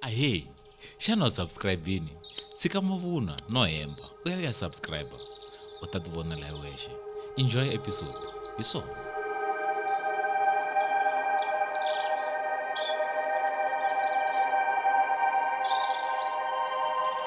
ahee xana u subscribe-ini tshika mavunwa no hemba u ya u ya subscribe u ta ti vonela hi wexe enjoy episode hi swona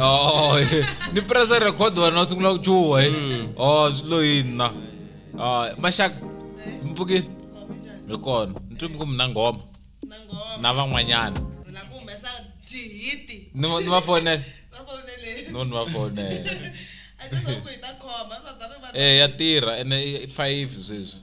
Oh, eh. ni presa record wena u sungula ku chuha eh. mm. o oh, swi lo yini na ah, maxaka mpfukini hi kona ni twi mi ku mi na nghoma na van'wanyana ni va fonela no ni va fonela e ya tirha ene i five sweswi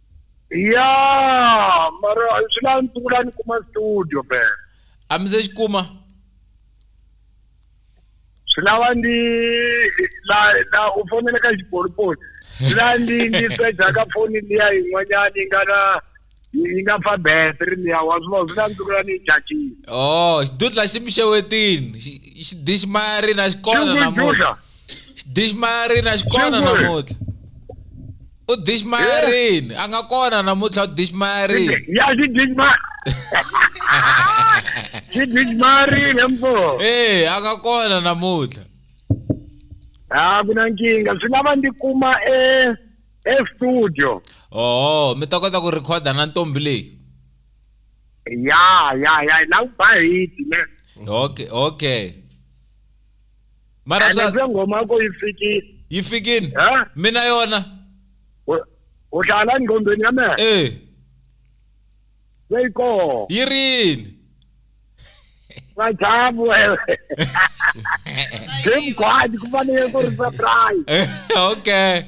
ya mara swi la ndzi vula ni kuma studio be a mi se xi kuma swi lava ndi la la u fonele ka xipolipoli swi la ndi ndi seja ka foni liya yin'wanyana yi nga na yi nga fa battery liya wa swi vona swi la ndzi vula ni yi chajile oh xidudla xi mi xewetini Xi- xi dixi mayarina xi kona Xi ku namuntlha dudla. xi dixi mayarina xi kona Xi ku ri. namuntlha u dishmayarini a nga kona namuntlha u dishmayarini ya xi dishma xi dishmayarini mpo ee a nga kona namuntlha a ku na nkingha swi lava ndzi kuma e estudio oho mi ta kota ku rhikhoda na ntombi leyi ya ya ya la ku ba hiti ne okay okay mara ene swa se ngoma yako yi fikile yi fikini Eh? mina yona U- u hlala engqondweni ya mehe eh leyi koho yi rini vajabu wewe jim gwadi ku fanele ku ri surprise Eh, okay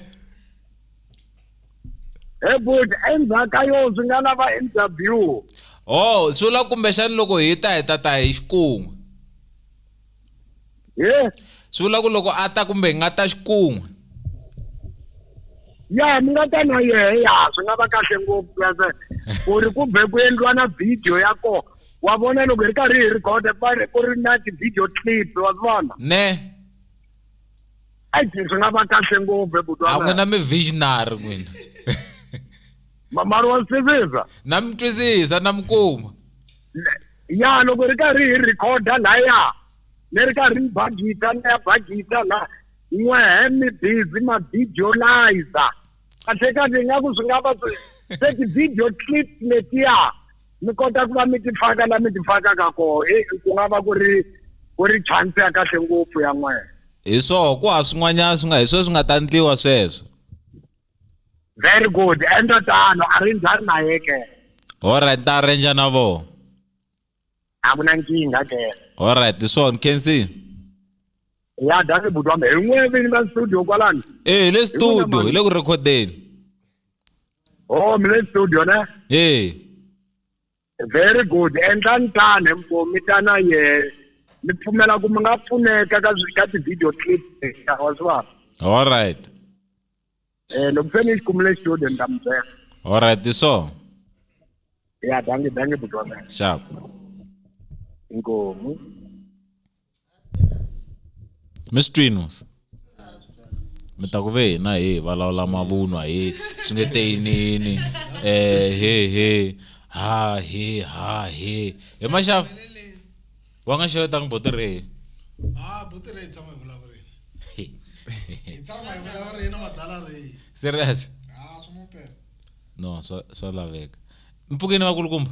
he but endzhaku ka yo swi nga lava interview oh swi vula kumbexani loko hi ta hi ta ta hi xikun'we he swi vula ku loko a ta kumbe hi nga ta xikun'we ya mi nga ta na yehe ya swi nga va kahle ngopfu kase ku ri ku be ku endliwa na video ya kona wa vona loko hi ri karhi hi rhikhoda ku va ri- ku ri na ti-video clip wa swi vona ne ai swi nga va kahle ngopfu a n'wina ebutwana mi visionary n'wina mamari wa sivisa na mi twisisa na mi kuma ya loko hi ri karhi hi rhikhoda laya ni ri karhi ni bagita ni ya bagita la n'wehe mi busy ma videolizer kahle kahle nga ku swi nga va se ti-video clip letiya mi kota ku va mi ti faka la mi ti fakaka koho e ku nga va ku ri ku ri chance ya kahle ngopfu ya n'wehe hi swoho ku ha swin'wanyana swi nga hi sweswi nga ta ndliwa sweswo Very good. Endla tano, a ri njhani na ye ke? Alright, ta arrange na vona. A ku na nkingha ke. Alright, swona Kensi. Ya dani buti wa me, hi n'we vini ka studio kwalani? Eh, hi le studio, hi le ku recordeni. Oh, mi le studio ne? Eh. Very good endlani tani mi ta na yena ni pfumela ku mi nga pfuneka ka ka ti-video clip leta wa swi vona all right um loko se ni yi kumile studio ni ta mi byela all right so ya dange dange butwana xaku inkomu mi swi twini mos mi ta ku ve hina he hi vulavula mavunwa he swi nge te yinini um eh, he he ha he ha he he maxava wa nga xevetanga boti re serious no swa laveka mpfukeni vakulukumba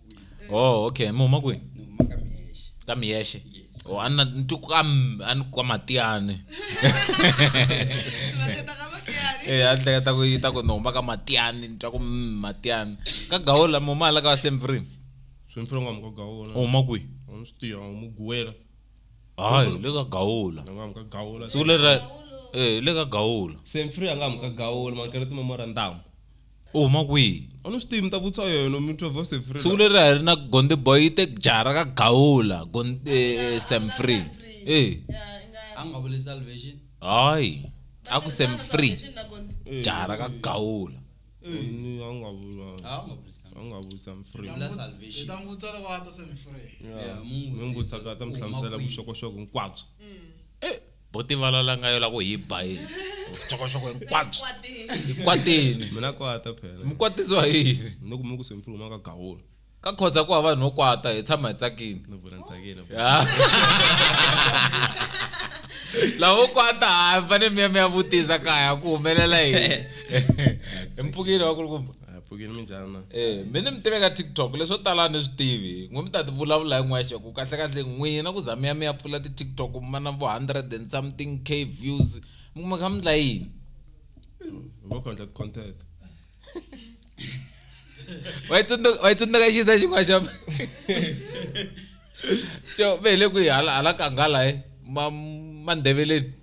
oh okay mi huma kwini ni huma ka miyexe ka miyexe Yes. oh, ana ni twi ka m- a ni kwa matiyani Eh, a ni hleketa ku yi ta ku ni huma ka matiyani ni twa ku mm, matiyani ka gawula mi huma hala ka vasemfrini swimfiri nga muka gawula u huma kwihi a ni swi tivi a mu guwela hayi le ka gawula nga muka gawula siku lera eh le ka gawula semfiri a nga muka gawula makereti memorandum u huma kwihi a ni swi tivi mi ta vutisa yena mi twa voice free siku leri a hi ri na gonde boy yi te jara ka gawula Gon- eh, eh, sam free e a nga vuli salvation hayi a ku sam free jara ka gawula Ni- a nga vula a nga vuli salvation a nga vuli sam free Vula salvation. ta n'wi vutisa loko a ta se mi free Yeah, mu n'wi mi n'wi vutisa ka ta mi hlamusela vuxokoxoko hinkwabyo bo tivala la nga yo la ku hi ba yini vuxokoxoko hinkwabyo hi kwateni mina kwata phela mi kwatisiwa hi yini ni ku mi ku swimfulu ma ka gawula ka khoza ku hava vanhu vo kwata hi tshama hi tsakile ni vula ni tsakile lavo kwata ha mi fanele mi ya mi ya vutisa kaya ku humelela yini hi mpfukile wa kulukumba a pfukini minjhani ma Eh, mi ni mi tiveka tiktok leswo tala ni swi tivi n'we mi ta ti vulavula hi n'wexe ku kahlekahle n'wina ku za mi ya mi ya pfula ti-tiktok mi va na vo hundred and something k views mi kuma kha mi ndla yini vo content content wa yi tsundzuka wa yi tsundzuka xisa xin'wana xa xo ve hi le kwihi hala hala kanghala he ma mandeveleni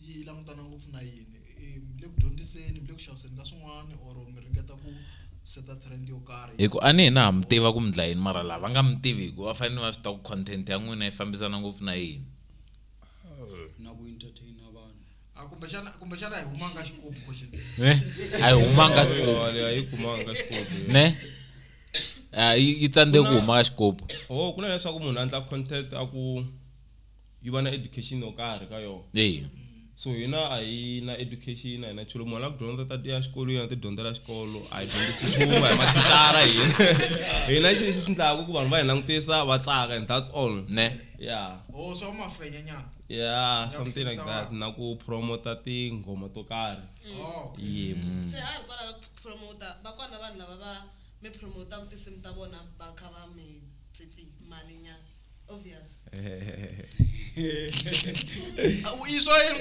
yi langutana ngopfu na yini mi le ku dyondziseni mi le ku xaviseni ka swin'wana or mi ringeta ku seta trend yo karhi hi ku a ni hina ha mi tiva ku mi dla yini mara lava nga mi tivi hi ku va fanele va swi ta ku content ya n'wina yi fambisana ngopfu na yini na ku entertaina vanhu a kumbexana kumbexana hi humanga xikopi question ne a yi humanga xikopo a yi kumanga xikopi ne a yi yi tsandze ku huma ka xikopo oh kuna leswaku munhu a endla content a ku yi va na education yo karhi ka yona eya so hina a hi na education a hi na nchulo munhu la ku dyondza ta ya xikolweni a ti dyondzela xikolo a hi dyondzisi nchumu a hi mathicara hi hina xi lexi xi ndlaku ku vanhu va hi langutisa va tsaka and that's all ne ya o oh, swa mafenya nyana ya something like that na ku promota tinghoma to karhi oh, yebo mm. se ha hi kwala ku promota va kwana vanhu lava va mi promotaka tinsimu ta vona va kha va mi tsitsi mali nyana izvoyeni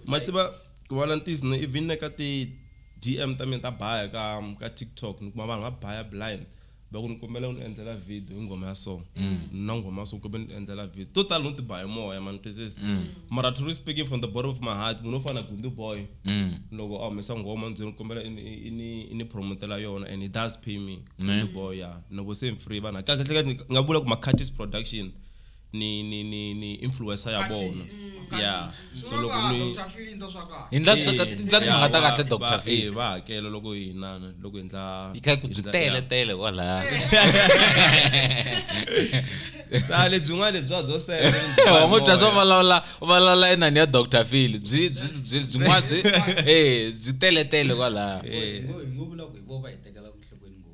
mativa ku vona ntizi ni even na ka ti-dm ta mina ta baya ka ka tiktok ni kuma vanhu va baya blind Loko ni kombela u ni endlela video hi nghoma ya so ni na nghoma ya so kumbe ni endlela video to tala no ti ba hi moya ma ni twisisa mara truly speaking from the bottom of my heart munhu wo fana na Gundu boy loko a humesa nghoma ni byela ni kombela i ni- i ni- i ni promotela yona and he does pay me Gundu boy ya ni loko se ni free vanhu kahlekahle ni nga vula ku Makhathis production ni ni ni ni influencer ya vona Khathisi, yeah khathisi. so Swi loko vona ku ni Dr. Phil into swa kahle. hi ndla swi ka- ndla timhaka ta kahle dr phil va hakela loko hi nana loko hi ndla yi kha ku byi tele tele kwalaya sa lebyin'wana lebya byo wa ngo bya swa vulavula u vulavula inani ya dr phil byi byi byi byin'wana byi eh byi tele tele kwalaya Ngo- ngo- ngo vula ku hi vo va hi tekela ku nhlokweni ngopfu.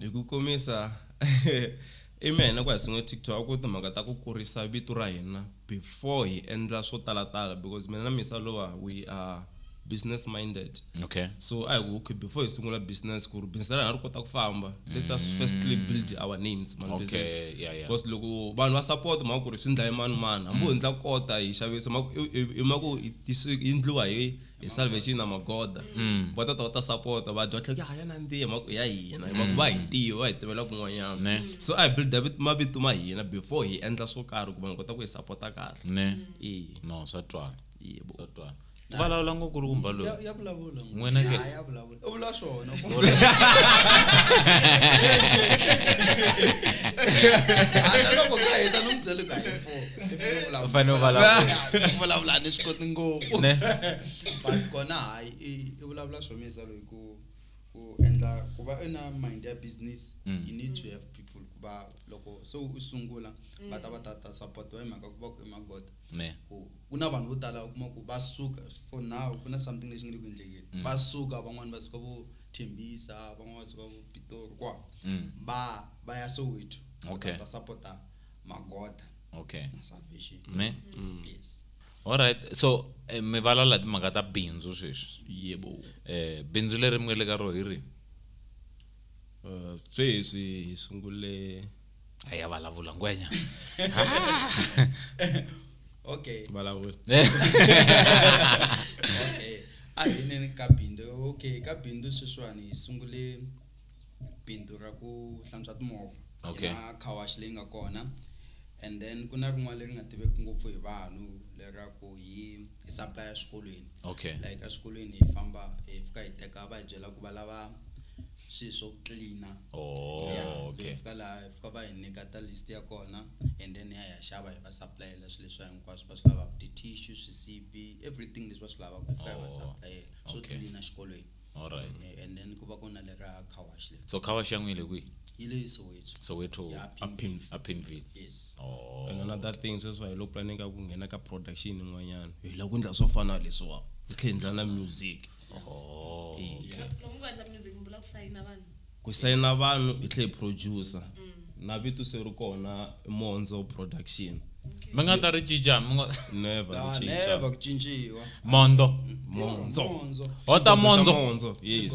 Hi ku komisa, Amy a hi na ku ya sungula TikTok a ku ri timhaka ta ku kurisa vito ra hina before hi endla swo talatala because mina na Miss Alova we are business minded. Okay. So a hi ku okay before hi sungula business ku ri business ra hina ri kota ku famba let us firstly build our names mani Okay, business. yeah, yeah. Because loko vanhu va support hi mhaka ku ri swi ndlaye mani mani hambi ho ndla kota hi xavisa hi mhaka ku hi hi tisi hi ndliwa hi hi salvation na magoda mm. va tata va ta sapota va dya tlhela ya na ntiya mhaka ya hina hi mhaka mm. va hi ntiyo va hi tivela kun'wanyana so a hi builda mavito ma hina before hi endla swo karhi ku vanhu kota ku hi sapota kahle ne no swa twala swa twala vulavula ngopfu ri kumba loyi n'wina ke u vula swona loko ka heta no mubyeli ka u fane u vulavula ni swi koti ngopfu but kona hayi i vulavula swo misa loyi ku ku endla ku va i na mind ya business mm. you need to have people ku va loko se u sungula va ta va ta ta support wa hi mhaka ku va ku i magoda ne ku ku na vanhu vo tala u kuma ku va suka for now ku na something lexi nge le ku endlekeni mm. va suka van'wani va suka vo thembisa van'wani va suka vo pitori kwa mm. va va ya soweto okay. ta supporta magoda okay. na salvation ne mm. yes alright so eh, mi valala timhaka ta bindzu sweswi yebo eh bindzu leri mi nga le ka ro hi ri eh, sweswi hi sungule a ya vulavula ngwenya okay vulavula eh. okay a hi neni ka bindzu okay ka bindzu sweswiwani hi sungule bindzu ra ku hlantswa timovha okay na car wash leyi nga kona and then ku na rin'wana leri nga tiveki ngopfu hi vanhu lera ku hi hi supply eswikolweni okay like eswikolweni hi famba hi fika hi teka va hi byela ku va lava swilo swo cleaner oh ya okay hi fika laha hi fika va hi nyika ta list ya kona and then ya hi ya xava hi va supplyela swilo leswi hinkwaswo va swi lavaka ti-tissue swisibi everything leswi va swi lavaka hi fika hi va Oh, supplyela swo okay. tlilina xikolweni all right Eh, and then ku va ku na le ra car wash le so khawa xa n'wile kwihi yi le soweto soweto Ya, Pimville. a pinville yes oh and another thing sweswi hi lo planeka ku nghena ka production yin'wanyana hi lava ku endla swo fana na leswiwa hi tlhela hi endla na music ku sayina vanhu i tlhe producer na vito se ri kona monzo production mi nga ta ri cinca mi nga never ah, cinca never ku cinciwa mondo monzo hota monzo monzo yes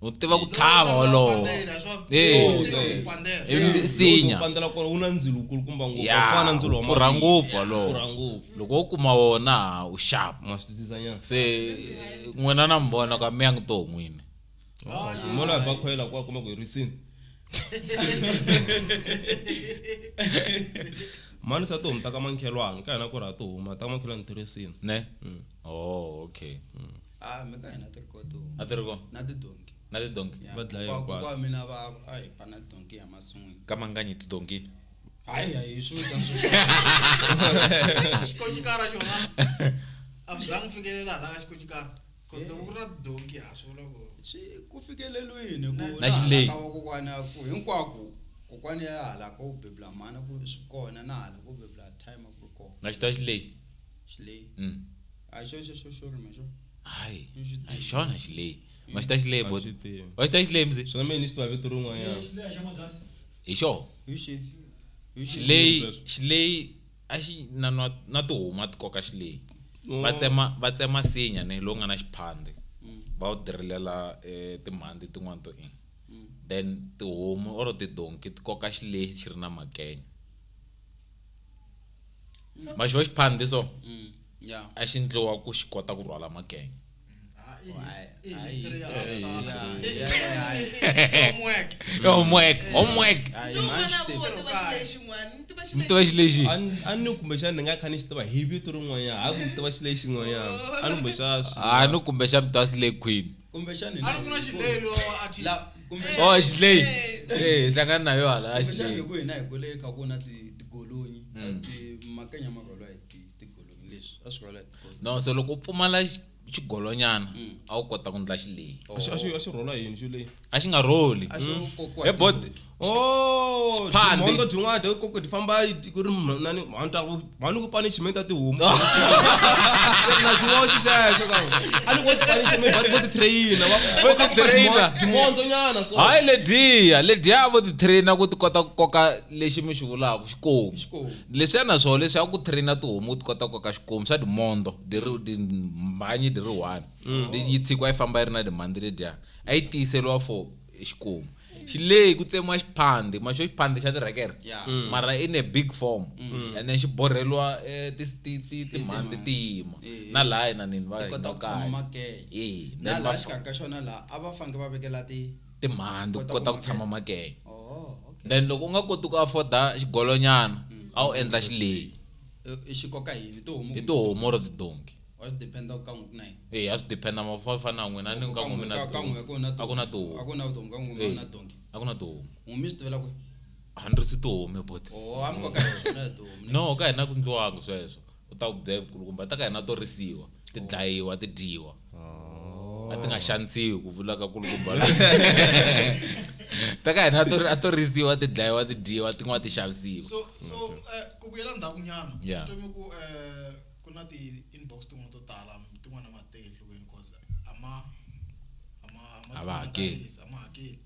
u tiva ku tlhava wolowo misinya pfurha ngopfu wolowo loko wo kuma wona u xava se n'wina na mi vona ka mi ya ngi to n'wini mona va khoyela kwa kuma ku hi risini mani sa tihomu ta ka mankhelwani ka hina ku ri ha tihuma ta ka mankhelwani ti risini ne mm. oh okay mm. a mi ka hina ti ri ko tihomu a ti ri ko na tidonki na tidonki Ya, Va dlaye kokwa- hinkwato. kokwa mina va a hi ba na donki ya masun'wini ka manganyi tidonkini hayi hayi swi vita xikoxikara xona a swi zangi fikelela hala ka xikoxikara bcause loko ku ri na tidonki ha swi vula ku swi ku fikeleliwini ku Na- na laha xileyi. ka vakokwana ku hinkwako kokwani ya hala ko bebula mhana ku swi kona na hala ko bebula time a ku ri kona na xita xileyi xileyi Mm. a hi xo xo xo xo rima xo hayi Ni swi a hi tivi. xona xileyi ma xi ta xileyi bo swi tivi wa xi ta xileyi mzi swona mina ni xi tiva vito rin'wanyana hi xo hi xi hi xi xileyi Sweswo. xileyi a xi na na na tihomu a ti koka xileyi Oh. va tsema va tsema nsinya ne lowu nga na xiphandhi Mm. va wu dirilela e timhandzi tin'wani to ina Mm. then tihomu or tidonki ti koka xileyi xi ri na makenya. maxo xiphandhi so mm, yeah. a xi ndliwa ku xi kota ku rhwala makenya homework homework mi tiva xi lexi a ni kumbexana ni nga kha ni xi tiva hi vito rin'wanyana a ku mi tiva xi lexi n'wanyana a ni kumbexana a ni kumbexana mi tiva xi le queen kumbexani a ri ku na xilelo a thi la kumbexani oh xileyi Eh, eh hlangana nayo hala a kumbexani xileyi ku hina hi kule kha ku na ti- tigolonyi a Mm. ti makanya ma rhwala hi ti- tigolonyi leswi a swi rhwala hi tigolonyi no so loko u pfumala xi- xigolonyana Mm. a wu kota ku ndla xileyi a xi- a xi- a xi rhwala hi yini xo leyi a xi nga rholi a xo kokiwa hi hi bod tinhompfu. Oh, Xipande. timhondzo tin'wana to koko ti famba ti- ku ri mhani mhani ta ku mhani ku pani chimeni ta tihomu se na xiwoxi xexo ka a ni koti pani chimeni va ti- vo ti trainer va Vo va ti koka trainer. timhon- timhondzo nyana so hayi lediya lediya vo ti trainer ku ti kota ku koka lexi mi xi vulaka xikomu Xikomu. leswiya na swona leswi ya ku trainer tihomu ti kota ku koka xikomu swa timondo diri dimhanyi diri one yi tshikiwa yi famba yi ri na dimhandzi lediya a yi tiyiseriwa for xikomu xi leyi ku tsemiwa xiphandhi ma xo xiphandhi xa tirhekere Yeah. Mm. mara in a big form Mm. and then xi borheriwa eh, ti- ti- ti- timhandhi ti yima Eh. na laha na nini va Ti kota ku tshama makeye. Eh, na then laha va- xikarhi ka xona laha a va faneke va vekela ti timhandhi ku Kota kota ku ku tshama makeye oh okay then loko u nga koti ku afforda xigolonyana a wu endla xileyi Eh, i xi koka yini tihomu i tihomu or tidonki a swi dependa ku ka n'we ku na yini e a swi dependa mafa fana na n'wina ni ka n'we na ka n'we ku na a ku na tihomu a ku na tihomu ka n'we ku na donki a ku na tihomu n'we mi swi tivela ku a ni ri si tihomu but oh a mi koka na tihomu no ka hina ku ndliwanga sweswo u ta ku byela kulukumba ta ka hina to risiwa ti dlayiwa ti dyiwa a ti nga xanisiwi ku vula ka kulukumba ta ka hina a to risiwa ti dlayiwa ti dyiwa tin'wana ti xavisiwa so so eh, ku vuyela ndzhaku nyana yeah. ku eh, Ku na ti inbox tin'wana to tala tin'wana ma teke enhlokweni because a ma a ma a ma A va hakeli. twananisi, a ma hakeli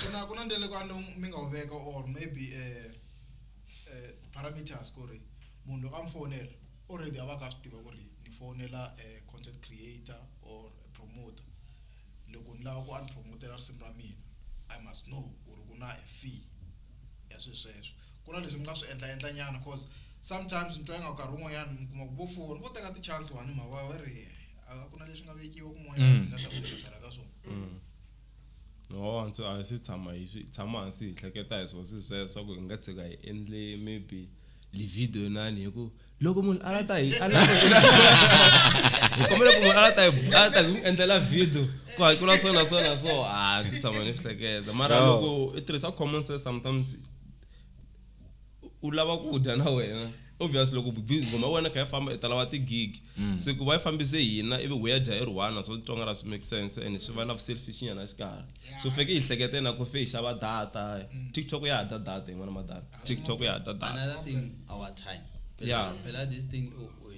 ku na ku na ndlela leyi vanhu mi nga wu veka or maybe eh eh parameters ku ri munhu loko a mi fowunela already a va ka a swi tiva ku ri ni fowunela eh content creator or promoter. Loko ni lava ku a ni phuromotela risimu ra mina, I must know ku ri ku na a fee ya swilo sweswo. Ku na leswi ni nga swi endla endlanyana coz sometimes ni twa ingaku nkarhi wun'wanyana mi kuma ku vo four vo teka ti-chance vanhu hi mhaka va va ri a ku na leswi nga vekiwa kun'wanyana hi nga ta ku hi refer-a ka swona. No a ndzi a hi se tshama hi swi tshama hansi hi hleketa hi swo swilo sweswo swa ku hi nga tshika hi endle maybe livhidiyo inani hi ku loko munhu a la ta hi a la ta hi kombela ku munhu a la ta hi a la ta hi n'wi endlela video ku hakela so na so na so a ah, ndzi tshama ni hleketa mara loko i tirhisa common sense sometimes u lava ku dya na wena obvious loko ngoma ya wena kha ya famba i ta lava tigigi mm. se ku va yi fambise hina ivi wu ya dya i ri one so tsonga ra swi make sense and swi va na selfish nyana xikarhi so feke hi hlekete na ku fe hi xava data mm. tiktok ya ha dya data yin'wana madata ah, tiktok ya ha dya data another thing our time yeah phela this thing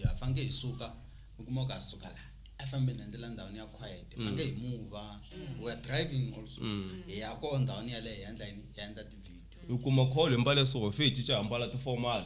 ya fanke hi suka u kuma ka suka la a fambe na ndlela ndhawini ya quiet mm. fanke hi move mm. we are driving also hi ya ko ndhawini ya le hi endla yini hi endla ti video u kuma call hi mbale so fe hi cinca hi mbala ti formal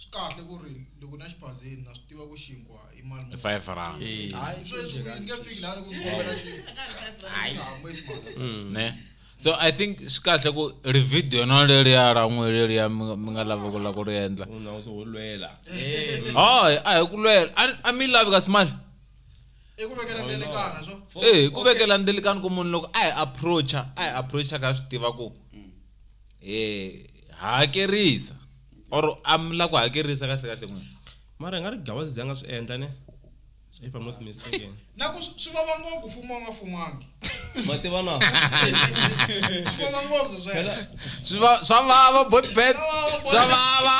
swi kahle ku ri loko na xibazeni na swi tiva ku xinkwa i mali muni. five rand Eh, hayi sweswi ni nge fiki laha loko ni kombela xi- ne so i think swi kahle ku ri video na leriya ra n'we leriya mi nga- mi nga lava ku la ku ri endla munhu a uzoholwela hayi a hi ku lwela a- a mi yi lavi kasi mali i ku vekela ndelekana so ee ku vekela ndelikani ku munhu loko a hi approacha a hi approacha ka swi tiva ku hi hakerisa or am la ku hakerisa kahle kahle n'wina mara hi nga ri gawazi zi a nga swi endla ne if i'm not mistaken na ku swi vava ngopfu fumo nga fumangi mativa na swi vava ngopfu sweswo swi va swa vava bot bet swa vava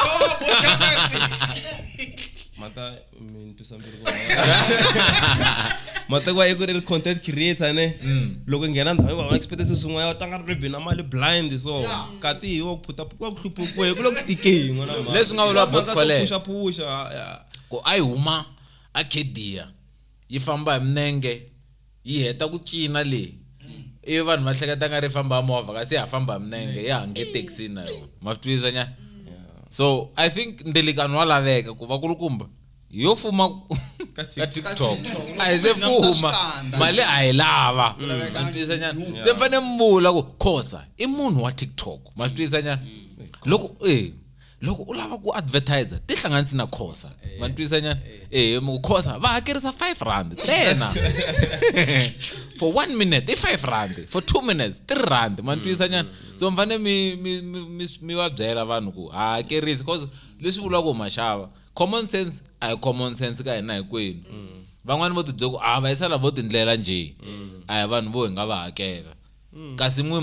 mata mintwisa mbilu ku hava matekwa i ku ri content creator ne mm. loko i nghena ndhawu va expect se swin'wana u tlanga ribi na mali blind so kati hi wa ku phuta ku wa ku hluphukiwe ku le ku tikeni n'wana mhani leswi nga vula bot kwale puxa puxa ku a yi huma a khedia yi famba hi minenge yi heta ku cina leyi ivi vanhu va hleketa nga ri famba movha kasi ya ha famba hi minenge ya ha nge taxini na yona ma swi twisisa nyana so i think ndelikano wa laveka ku va kulukumba hi yo fuma ka tiktok a hi se fuma mali a hi lava ma swi twisisa nyana se mi fanele mi vula ku khosa i munhu wa tiktok ma swi twisisa nyana loko eh loko u lava ku advertiser ti hlanganisi na khosa eh, va ntwisa nyana eh, eh khosa va hakerisa 5 rand ntsena for 1 minute i 5 rand for 2 minutes 3 rand ma ntwisa nyana mm. so mi fanele mi mi mi mi va byela vanhu ku ha hakerisi cause leswi vulaka ku maxava common sense a hi common sense ka hina hinkwenu mm. van'wani vo tibyela ku a ah, va yisala vo tindlela nje mm. a hi vanhu vo hi nga va hakela kasi n'wi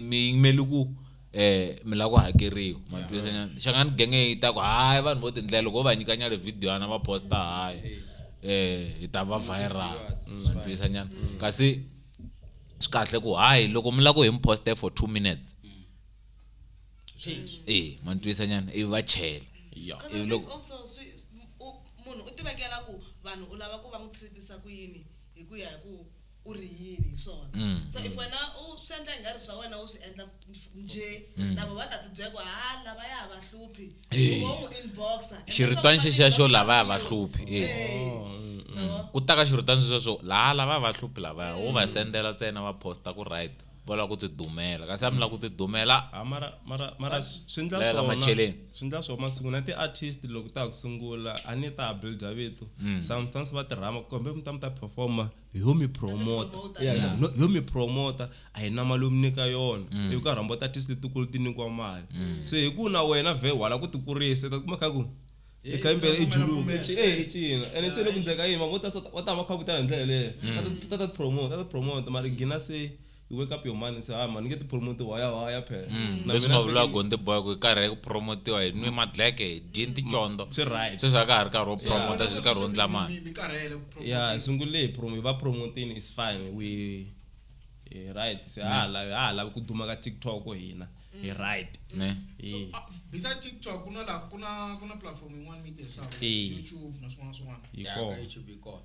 mi yimeli ku eh mi lava ku hakeriwa ma twisanyana xangani genge yi ta ku hayi vanhu vo tindlela loko ho va nyika nyale video yana va posta hayi eh hi ta va viral ma twisanyana kasi swi kahle ku hayi loko mi lava ku hi mi poste for two minutes e ma ni twisa nyana ivi va chela ivi loko munhu u tivekela ku vanhu u lava ku va n'wi treat-isa ku yini hi ku ya hi ku u ri yini hi swona mm. so if mm. wena u swi endla ingari swa wena u swi endla nje mm. lava va ta tibyela ku ha lava ya va hluphi eh. u n'wi inboxa xiritwani xexiya xo lava ya va hluphi eh. Eh. Oh, ku ta ka xiritwani xexiya xo laha lava ya va hluphi lavaya wo va sendela ntsena va posta ku right va lava ku tidumela kasi a mi lava ku tidumela ah, mara mara mara swi ndla swona swi ndla swona masiku na ti-artist loko ta ha ku sungula a ni ta ha builda vito mm. sometimes va tirhama kumbe mi ta mi ta performa yo mi promota Yeah. No- yo mi promota a hi na mali yo mi nyika yona Mm. hi ku karhi hambo tatisi letikulu ti nyikiwa mali se hi ku na wena vhe wala ku ti kurisa ta kuma kha ku i kha imbele i juluka i ci- eh, i cina ene se le ku ndzeka yini mavona va ta va ta va kha ku tala hi ndlela yeleyo Ta- ta ta promota ta ta promota mara gina se you wake up your mind and say ah man nge ti promote waya waya phela mm. leswi nga vula gonde boy ku karhi ku promotiwa hi nwi madleke hi dyini ticondo swi right sweswi a ka ha ri karhi wo promota swi karhi wo ndla mali ya sungule promo va promotini is fine we right se ha mm. lavi ha lavi ku duma ka TikTok hina hi right ne so ah, besides TikTok kuna la kuna kuna platform yin'wana mi tirhisaka YouTube na swin'wana swin'wana yi kona YouTube yi kona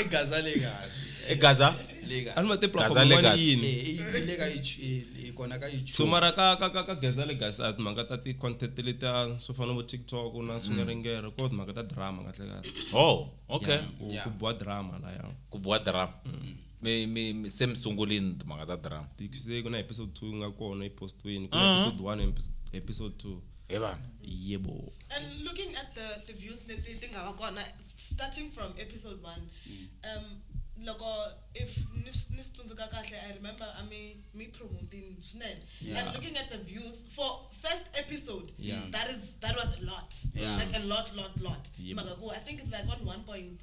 egaza le kahle egaza le kahle anima te platform le kahle yini eh le ka i kona ka youtube so mara ka ka ka gaza le kahle at manga ta ti content le ta so fana bo tiktok na mm. swingeringere ko manga ta drama kahle kahle oh okay ku bua drama la ya ku bua drama mm. mi, mi, mi, se mi sungulini timhaka ta drama Tiki se ku na episode 2 yi nga kona yi postiweni ku na episode 1 and epis- episode 2 hi vana yebo And looking at the, the views leti ti nga va kona starting from episode one um, loko if ni s- ni swi tsundzuka kahle i remember a mi mi promoting swinene Yeah. and looking at the views for first episode Yeah. that is that was a lot Yeah. like a lot lot lot Yep. mhaka ku i think it's like on 1.3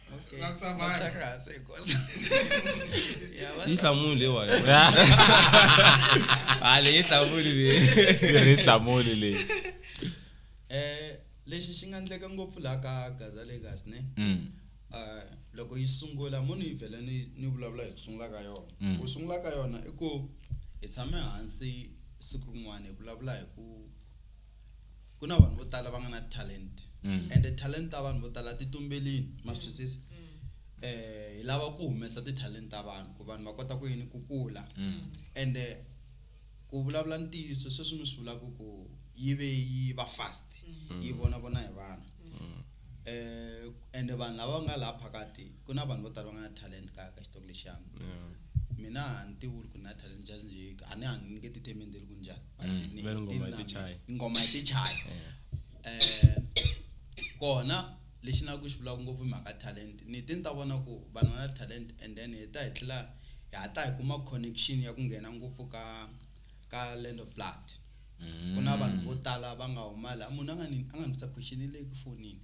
Okay. Nga kusavali. Nga kusakasi, inkosi. Yabona? inhlamulo lewa hayi le inhlamulo le ri hlamuli leyi Eh, lexi xi nga endleka ngopfu laha ka gaza legas ne Mm, Ah, loko yi sungula mo ni vhele ni ni vulavula hi ku sungula ka yona Mm. ku sungula ka yona i ku hi tshame hansi siku rin'wana hi vulavula hi ku ku na vanhu vo tala va nga na talent mm. and talent ta vanhu vo tala ti tumbelini ma swi twisisa eh hi lava ku humesa ti-talent ta vanhu ku vanhu va kota ku yini ku kula mm. and eh, ku vulavula ntiyiso sweswi mi swi vulaka ku yi ve yi va fast mm. yi vona vona hi vanhu eh and vanhu lava nga laha phakati ku na vanhu vo tala va nga na talent ka ka xitoko lexiyani mina a ni tivi ku na talent just nje a ni a ni nge tithemendeli ku njhani but Mm, ni- veri ngoma i yi ti name- chayi. ngoma yi ti chayi Eh, kona lexi na ku xi vulaka ngopfu i mhaka talent ni ti ni ta vona ku vanhu va na talent and then hi ta hi tlhela hi hatla hi kuma connection ya ku nghena ngopfu ka ka land of blood ku na vanhu vo tala va nga huma laha munhu a nga ni a nga ni vutisa question leyi ku fonini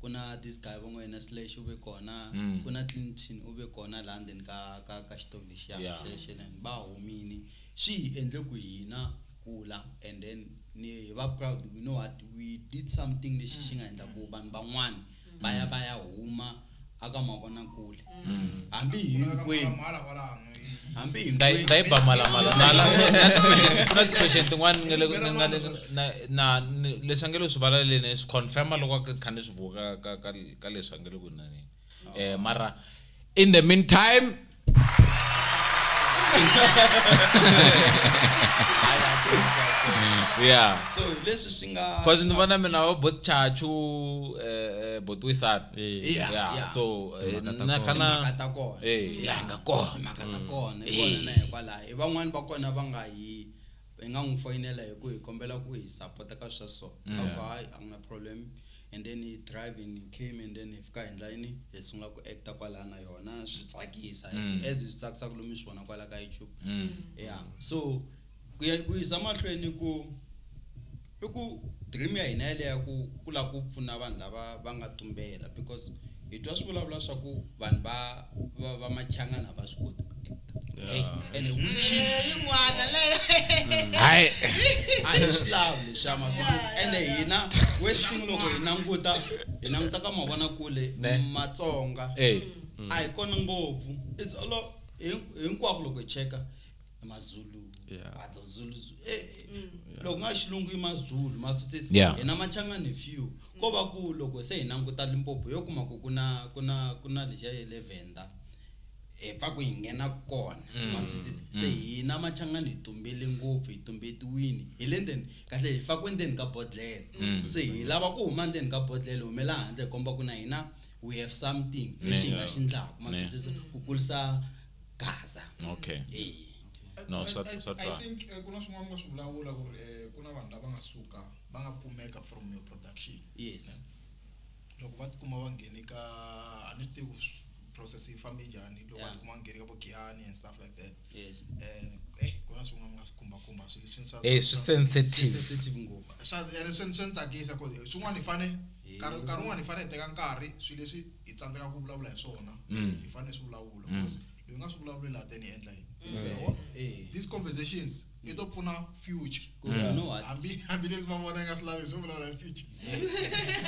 ku na this guy va n'wi yena slash u ve kona mm. ku na clinton u ve kona laha ndzeni ka ka ka xitolo lexiya yeah. xexeleni va humini swi hi endle ku hina kula and then ni hi va proud we know what we did something lexi xi nga endla ku vanhu van'wana va ya va ya huma aka mavonakule hambi hinkwenu hambi hinkwenu ta yi ba malamala na ti-question tin'wana ni nga le na leswi a nge lo swi valaleni swi confirma loko a kha ni swi vuka ka ka ka leswi a nge le ku naneni um mara in the meantime yeah so leswi swi nga cause ni vona mina va bot chachu um eh, eh, botwisana Eh, Yeah, yeah, yeah. so eh, Timhaka ta na kona. kana timhaka ta kona Eh, ya nga kona timhaka ta kona hi kona na hikwalaho hi van'wani va kona va nga hi hi nga n'wi foyinela hi ku hi kombela ku hi sapota ka swa so a ku hayi a ku na problem and then hi driving hi came and then hi fika hi ndlayini hi sungula ku acta kwalaya na yona swi tsakisa as hi swi tsakisaka lomu hi swi vona kwala ka youtube ya so ku ya ku yisa mahlweni ku i ku dream ya hina yaleya ku ku lava ku pfuna vanhu lava va nga tumbela because hi twa swi vulavula swa ku vanhu va va va machangana a va swi koti ku actor and which is yin'wana leyo hayi a hi swi lavi leswiya matsongo ene hina westing loko hi languta hi languta ka mavonakule Ne. matsonga Eh. a hi kona ngopfu it's all o- hin- hinkwako loko hi cheka mazulu yeah. adzo ah, zulu eh, eh. Mm. loko nga xilungu i mazulu masutsisi yeah. hina machangani few ko va ku loko se hi languta limpopo yo kuma ku ku na ku na ku na lexiya ye le venda hi pfa ku hi nghena kona mm. masutsisi mm. se hina machangani hi tumbele ngopfu hi tumbetiwini hi le ndzeni kahle hi fakiwe ndzeni ka bodlele mm. se hi lava ku huma ndzeni ka bodlele humela handle hi komba ku na hina we have something lexi nga xi ndlaku ma twisisa ku kulisa gaza okay eh no swa swa twa i think eh, ku na swin'wana nga swi vulavula ku ri eh, ku na vanhu lava nga suka va nga kumeka from your production yes loko va tikuma va nghene ka a ni swi tivi ku process yi fambe njhani loko va tikuma va nghene ka vo giyani and stuff like that yes um eh ku na swin'wana mi nga swi khumbakhumba swilo leswi swa- Eh, swi swa- sensitive. sensitive ngopfu swa- ene swi swi ni tsakisa ku swin'wana hi fane Hi- nkarhi nkarhi wun'wana hi fane hi teka nkarhi swilo leswi hi tsandzekaka ku vulavula hi swona Mm. hi fane hi swi vulavula because loyi nga swi vulavuleli a teni hi endla yini Yawona? Eh. these conversations i to pfuna future ku ri you know what hambi hambileswi va vona nga swi lavi swo vulavula hi future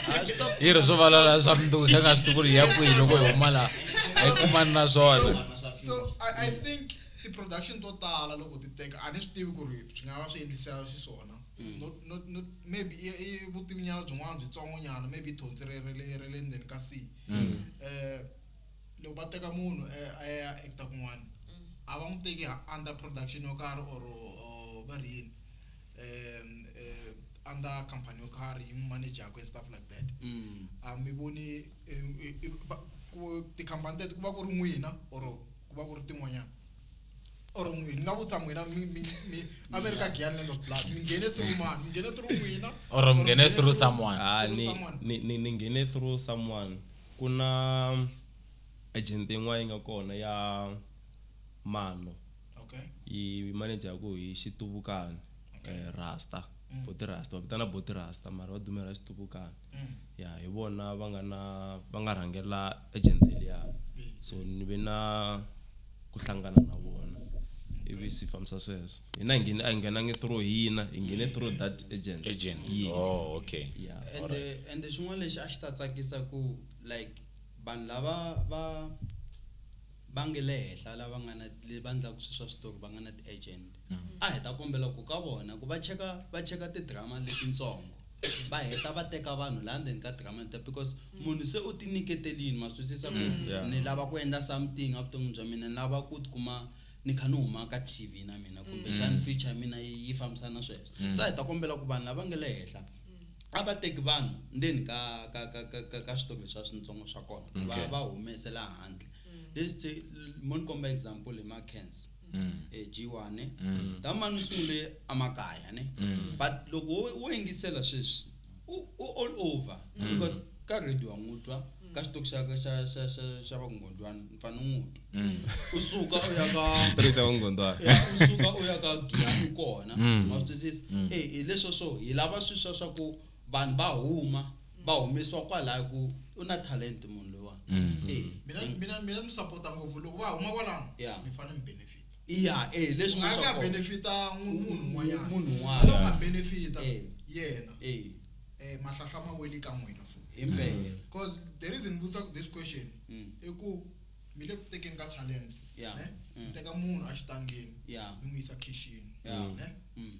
Ah, swi ta yi ri swo valala swa mundzuku se nga swi tivi ku ri hi ya kwihi loko hi huma laha a yi kumani na swona so I, i think ti-production to tala loko ti teka a ni swi tivi ku ri swi nga va swi endlisa xiswona not, not, not, maybe i, i vutivinyana byin'wana byitsongonyana maybe i thonsi re re le re le ndzeni ka si um loko va teka munhu a ya eka kun'wana a va n'wi teki under production yo karhi or va ri yini under company yo karhi yi n'wi manejaka and stuff like that mm. a mi voni tikhampani teto ku va ku ri n'wina or ku va ku ri tin'wanyana or n'wini ni nga vutisa n'wina a mi ri ka giyani land of blood mi nghene through mani mi nghene through n'wina or mi nghene through someone ah, ni nghene through someone Ku na agent yin'wana yi nga kona ya Mano. Yi manager ku hi Xituvukani, Rasta, Buti Rasta. Va vitana Buti Rasta mara va dumela Xituvukani. Ya hi vona va nga na va nga rhangela agent liyani. So ni ve na. ku hlangana na vona ivi swi fambisa sweswo hina hi nghene a hi nghenangi through hina hi nghene through that agent agent yes. oh okay yeah. ende ende xin'wana lexi a xi ta tsakisa ku like vanhu lava va va nge le henhla lava nga na va endlaka swilo swa switori va nga na ti-agent a hi ta kombela ku ka vona ku va cheka va cheka tidrama letintsongo va heta va teka vanhu laha ndzeni ka drama leta because munhu se u tinyiketelini ma swisisa ku mm. yeah. ni lava ku endla something evuton'wini bya mina ni lava ku tikuma ni kha ni huma ka t v na mina kumbexani mm. future ya mina yi fambisana na sweswo mm. se hi ta kombela ku vanhu lava nge le henhla a va teki vanhu ndzeni ka ka ka ka ka ka switori leswi a swintsongo swa kona va va humesela handle leswi mo ni komba example hi ma cancer eh, G1 ne ta mani sungule amakaya ne but loko wo- wo yingisela sweswi u u all over because ka radio angutwa ka xitoki xa xa xa xa xa vakungondwana mfana ungutu u suka u ya ka tirhisa vungondwana ya, u suka u ya ka giyani kona wa swi twisisa eh hileswo swo hi lava swi swa swa ku vanhu va huma va humesiwa kwalaya ku u na talent munhu loyiwani Eh, mina eh, mina mina ni support ngopfu loko va huma kwalano Yeah. mi fanele mi benefit iya eh, leswi nga nga swa ka kona. benefita munhu munhu un'wanyana Munhu un'wana. loko a benefita Eh. yena Eh, eh mahlahla ma weli ka n'wina futhi impela because the reason ni vutisaka this question Mm. i ku mi le ku tekeni ka talent Yeah. ne Mm. mi teka munhu a xitangeni Yeah. mi n'wi yisa khixini Yeah. ne Mm.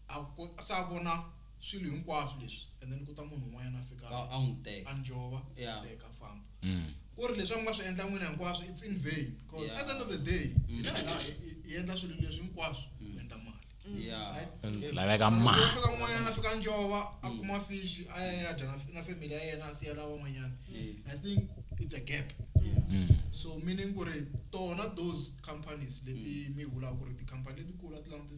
a ko- se a vona swilo hinkwaswo leswi and then ku ta munhu un'wanyana a fika a n'wi teka a njova a teka famba mm. ku ri leswi a mi nga swi endla n'wina hinkwaswo it's in vain because at the end of the day mm. hina hina hi endla swilo leswi hinkwaswo ku mm. endla mali laveka mafika n'wanyana a fika njova a kuma fish a ya ya dya na family ya yena a siya lava van'wanyana i think it's a gap so meaning ku ri tona those companies leti mi vulaka ku ri ti-company letikulu a ti languti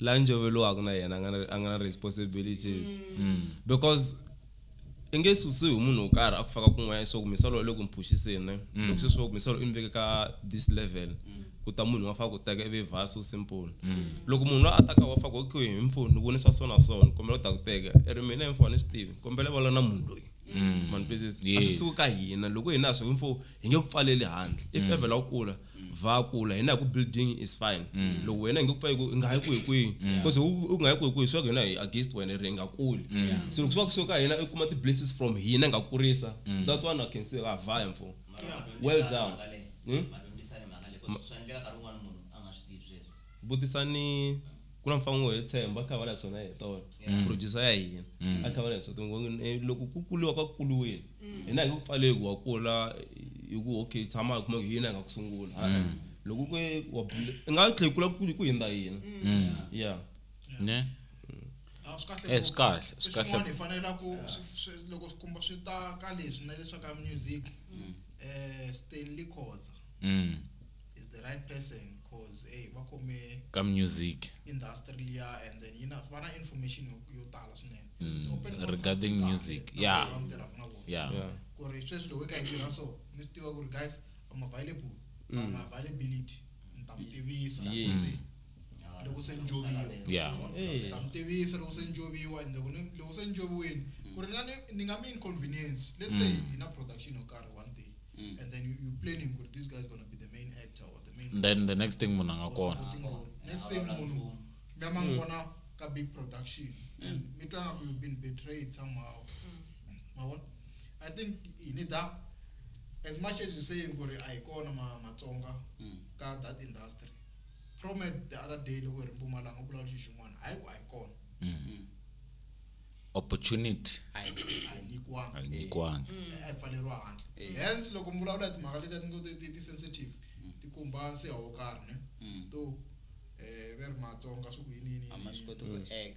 la njoveliwaka na yena a nga na a nga na responsibilities because i nge susiwi hi munhu wo karhi a ku faka kun'wanyana swa ku misava lowu le ku mi phuxiseni ne loko se swi va ku misava lowu i mi veke ka this level ku ta munhu wa faka ku teka ivi vha so simple loko munhu loyi a taka wa faka okay hi mfo ni vone swa so na so ni kombela u ta ku teka i ri mina hi mfo a ni swi tivi kombela i vulavula na munhu loyi ma ni twisisa a swi suki ka hina loko hina ha swi mfo hi nge ku pfaleli handle if mm. ever la ku kula va kula hina hi ku building is fine mm. loko wena hi nge ku pfa ku nga yi ku hi kwihi because u nga yi ku hi kwihi swa ku hina hi against wena ri nga kuli mm. so loko swa ku so ka hina i kuma ti-blesses from hina nga kurisa that one i can say ha ah, vaya mfo well done hmm? vutisani ku na mfango wo hetshemba a kha va na swona hi tona mm. producer ya hina mm. a kha va na swona tingongi eh, loko ku kuliwa ka kuliwile mm. hina hi ku pfale ku wa kula hi ku okay tshama hi kuma ku hina hi nga ku sungula loko ku wa nga tlhe kula ku ku hindza hina yeah ne a swi kahle eh, swi kahle swi kahle swin'wana hi fanela ku loko swi kumba swi ta ka leswi na leswi ka music eh Stanley Khoza is the right person cause hey va khome ka music industry liya and then yi na va na information yo tala swinene mm, regarding music yeah yeah ku ri sweswi loko yi ka yi tirha so mi swi tiva ku ri guys i'm available mm. i'm availability ni ta mi tivisa loko se ni joviwa ya ta mi tivisa loko se ni joviwa ende ku ni loko se ni joviwini ku ri nga ni ni nga mi inconvenience let's say hi na production yo karhi one day and then you, you planning ku ri this guy is gonna be the main actor or the main then the next thing munhu a nga or kona supporting role next thing munhu mi ya ma n'wi vona ka big production and mi twa nga ku you've been betrayed somehow ma vona i think hi need that as much as you saying ku ri a hi kona ma- matsonga ka that industry Promet the other day loko hi ri Mpumalanga u vulavula xilo xin'wana hayi ku a hi kona. Opportunity A hi a hi nyikiwanga. a yi nyikiwanga. Eh, a hi pfaleriwa handle. Hence loko mi vulavula hi timhaka leti a ti ngo ti- ti ti sensitive ti khumba nsiha wo karhi ne. To eh va ri Matsonga swi ku yini yini yini. A ma swi koti ku act.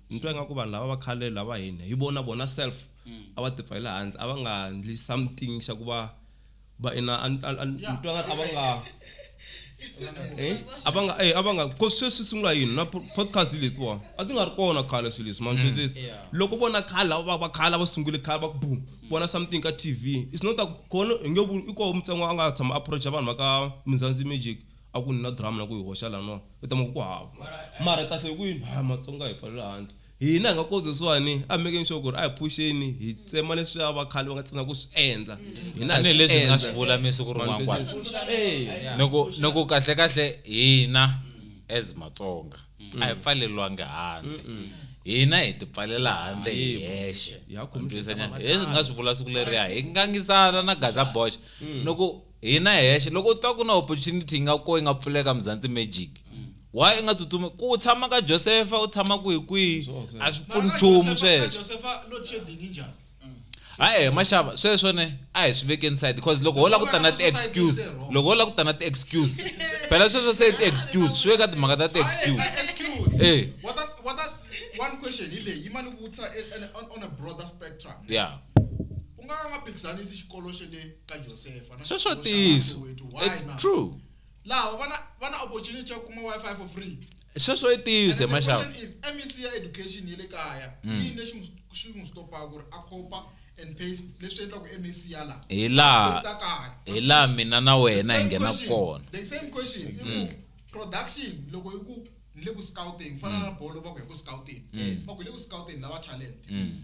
Ni twa ingaku vanhu lava va khale lava hi hi vona vona self a va tipfa hi le handle a va nga ndli something xa ku va va i na ni twa nga a va nga eh, a va nga eh, a va nga ko sweswi sungula yini na podcast letiwa a ti nga ri kona khale swilo leswi mantwisisa mm. loko vona khale lava va khale va sungule khale va ku boom vona something ka tv it's not kona hi nge i koho mutsengo a nga tshama approacha vanhu va ka minzanzi magic A ku ni na drama na ku yi hoxa laniwa u ta ma ku ku hava. Mara hi ta tlhe hi ku yini? Haa Matsonga hi pfalele handle. Hina hi nga ko sweswiwani a hi mekeni sure ku ri a hi phuxeni hi tsema leswiya va khale va nga tsandzeka ku swi endla. Hina hi swi endla. Tanihileswi hi nga swi vula masiku rin'wana kwala. Ni ku ni ku kahlekahle hina as Matsonga a hi pfaleriwangi handle. Hina hi ti pfalela handle hi hexe. Hi swi nga swi vula siku leriya hi ngangisana na Gaza Bosch ni ku. hina hexe loko u twa ku na opportunity yi nga ko yi nga pfuleka mzantsi magic why i nga tsutsumi ku u tshama ka josefa u tshama kwihi kwihi a swi pfuni nchumu sweswo hayi maxava sweswo ne a hi swi veke inside because loko ho la ku ta na ti-excuse loko ho la ku ta na ti-excuse phela sweswo se ti-excuse swi veka timhaka ta ti-excuse e one question hi leyi yi ma ni vutisa on a broader spectrum yeah u nga ka nga phikizanisi xikolo xa le ka josefa na sweswo xikolo xa ntiyiso Soweto. Why it's na? true laha va na va na opportunity ya ku kuma wifi for free sweswo i ntiyiso And the maxava question is mec ya education ya le kaya Mm. yini lexi n'wi- xi n'wi stopaka ku ri a copa and paste leswi endlaka mec ya laha hi Paste laha la kaya hi laha mina na wena hi Same nghenaka question. kona the same question i ku Mm. production loko i ku ni le ku scouting fana na bolo va ku hi ku scouting Mm. va ku hi le ku scouting lava talent Mm.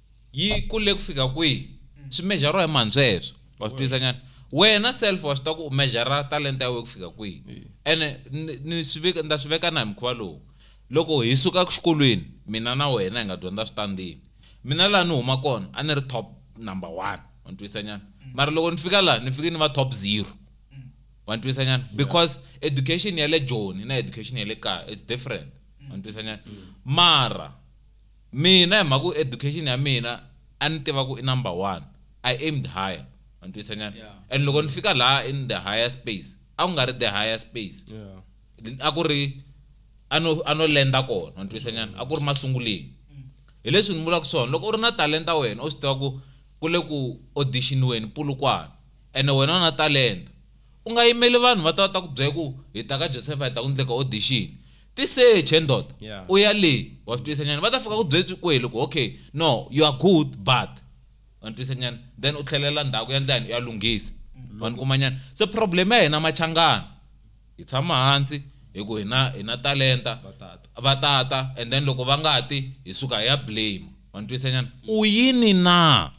yi kule ku fika kwihi swi mejariwa hi mhantswe heswo wa swi twisisa nyana wena self wa swi ta ku u mejara talenta ya wena ku fika kwihi ene ni- ni swi veka ni ta swi veka na hi mukhuva lowu loko hi suka exikolweni mina na wena hi nga dyondza switandini mina laha ni huma kona a ni ri top number one wa ni twisisa nyana mara loko ni fika laha ni fike ni va top zero wa ni twisisa nyana because education ya le joni na education ya le kaya it's different wa ni twisisa nyana mara Mina hi mhaka ku education ya mina a ni tiva ku i number one, I aimed higher, wa ni twisa nyana, Yeah. and loko ni fika laha in the higher space a ku nga ri the higher space, Yeah. a ku ri a no a no lenda kona, wa ni twisa nyana, a ku ri masunguleni. Hi leswi ni vulaka swona, loko u ri na talenta wena u swi tiva ku ku le ku audition-iweni Polokwane ene wena u na talenta, u nga yimeli vanhu va ta va ta ku byela ku hi ta ka Josefa hi ta ku endleka audition. tiseche ndoda yeah. u ya le wa swi twisa nyana va ta fika ku byetswi kwehi loko okay no you are good but wa ni twisa nyana then u tlhelela ndhaku ya ndlayani u ya lunghisa mm. wa ni kuma nyana se problem ya hina machangana hi tshama hansi hi ku hina hina talenta va tata and then loko va nga ti hi suka hi ya blame wa ni twisa nyana u yini na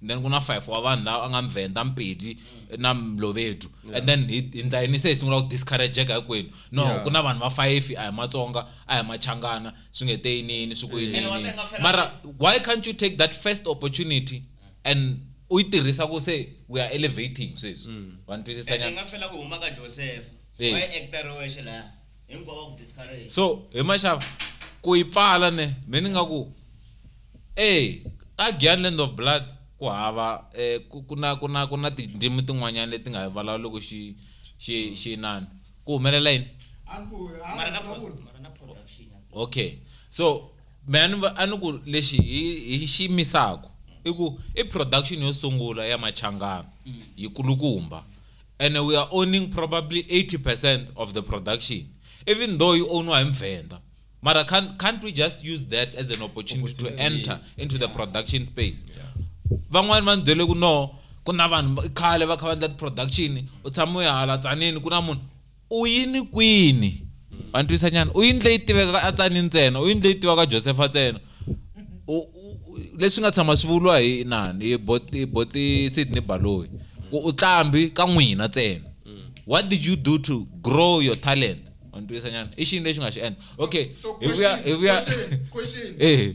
and then ku na five wa vanhu lava a nga mvenda mpedi na mlovedu and then hi hi ndla yini se hi sungula ku discourageka hinkwenu no Yeah. ku na vanhu va fayifi a hi matsonga a hi machangana swi nge te yiniyini swi ku Ene wa yiniyini tenga fela- mara why can't you take that first opportunity and u yi tirhisa ku se we are elevating sweswi va ni twisisa ene nyana nga fela ku huma ka josefa Eh. wa actor wexe laha hinkwavo ku discourage so hi maxava ku yi pfala ne me ni nga ku e ka gyan land of blood ku hava eh, ku na ku na ku na tindzimi tin'wanyana leti nga vulavuloko xi xi xi inani ku humelela yini okay so me a ni a ni ku lexi hi hi xi misaka i ku i production yo sungula ya machangana mm. yi kulukumba and we are owning probably 80% of the production even though you own hi muvhenda mara can't, can't we just use that as an opportunity to enter yes. into yeah. the production space van'wani va ni byele ku no ku na vanhu khale va kha va endla ti-production u tshama u ya hala tsanini ku na munhu U yini kwini? Ma ni twisa nyana. U yini leyi tivekaka a tsani ntsena? U yini leyi tivaka Josefa ntsena? Leswi nga tshama swi vuriwa hi nani? Hi bot hi bot Sydney Baloyi. Ku u tlambi ka n'wina ntsena. What did you do to grow your talent? Ma ni twisa nyana. I xini lexi nga xi endla? Okay, hi vuya hi vuya. Eh.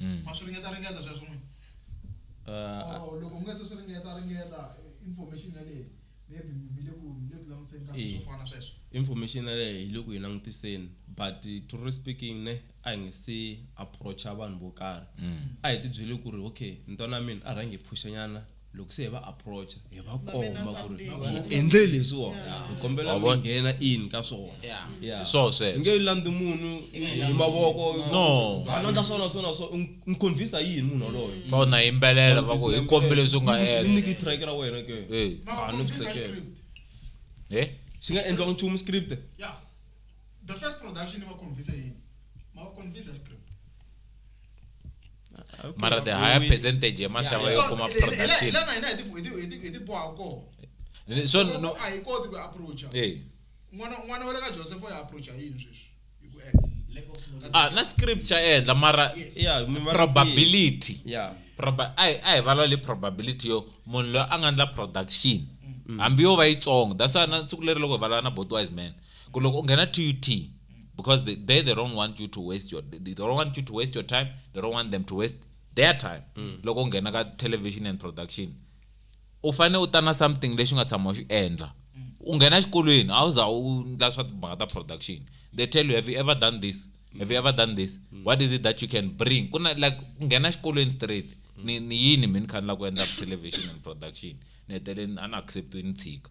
mm. ma swi ringeta ringeta sweswo n'wini uh, or loko mi nga se swi ringeta ringeta information yaleyo maybe mi le ku mi le ku langutiseni ka swo fana sweswo information yaleyo hi le ku yi langutiseni but truly speaking ne a hi nge se approacha vanhu vo karhi mm. a hi tibyele ku ri okay ntwana mina a rhangi hi phuxanyana loko se hi va approacha hi va komba ku ri hi endle leswiwona hi kombela mi nghena in ka swona so sweswo nge landzi munhu hi mavoko no a landza swona swona so n'wi convince yini munhu waloyo fa u na yimbelela va ku hi kombe leswi nga endla nyiki track ra wena ke a ni tsakela he swi nga endliwa nchumu script yeah the first production va convince yini ma convince script mara the higher percentage ya mashava yo kuma production lana hina hi ti hi ti boha ko so no a hi koti ku approacha eh n'wana n'wana wa le ka Joseph ya approacha yini sweswi hi ku act ah na script xa endla mara yeah probability yeah proba ai ai valwa le probability yo munhu loyi a nga ndla production mm. hambi yo va yitsongo that's why na ntsiku leri loko hi valana botwise man ku loko u nghena TUT because they, they they don't want you to waste your they don't want you to waste your time they don't want them to waste their time mm. loko nghena ka television and production u fanele u ta na something lexi nga tshama xi endla u nghena xikolweni a wu za u ndla swa timhaka ta production they tell you have you ever done this have you ever done this mm. what is it that you can bring ku na like u nghena xikolweni straight ni ni yini mi ni khanela ku endla television and production ni heteleni a ni acceptiwe ni tshika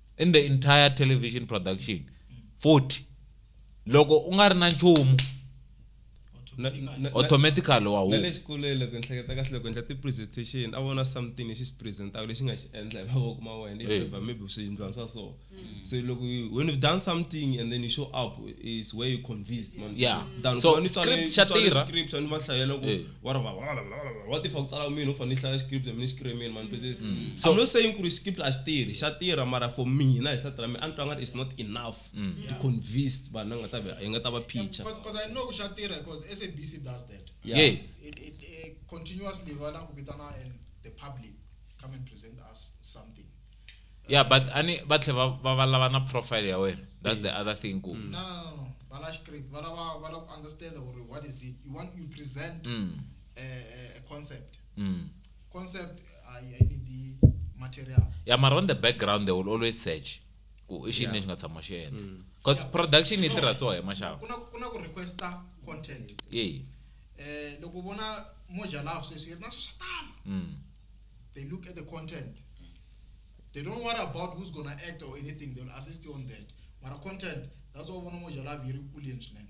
in the entire television production 40 loko u nga ri na nchumu Na- na- na- automatically wa na huma le xikolweni loko ni hleketa kahle loko endla ti-presentation a vona something lexi xi presentaka lexi nga xi endla hi mavoko ma wena Eh. if maybe swiyindlwana swa so so loko you- when you've done something and then you show up is where you convinced man Yeah. than So, ku va ni tswale- script xa ni tswale tirha. script a ni va hlayela ku Eh. wa ri va wa tifa ku tsala mina u fanele hlaya script mina script mina man business mm. so I'm not saying ku ri script a xitirhi xa tirha mara for mina hi sati ra mina a ni twa nga ri is not enough mm. to convince vanhu va nga ta hi nga ta va picture because I know ku xa tirha because SABC does that yes it, it, it continuously va la ku vitana and the public come and present us something yeah but ani va tlhe va va va lava na profile ya wena that's the other thing ku no no no va la script va lava va la ku understand or what is it you want you present mm. a, a concept mm. concept i i need the material yeah mara on the background they will always search ku i xini lexi nga tshama xi endla mm. because production yi tirha so hi maxava ku na ku na ku requesta content yeah eh loko vona moja love sweswi na swi swa tala mm. they look at the content they don't worry about who's gonna act or anything they'll assist you on that mara content that's why vona moja love yi ri kuleni swinene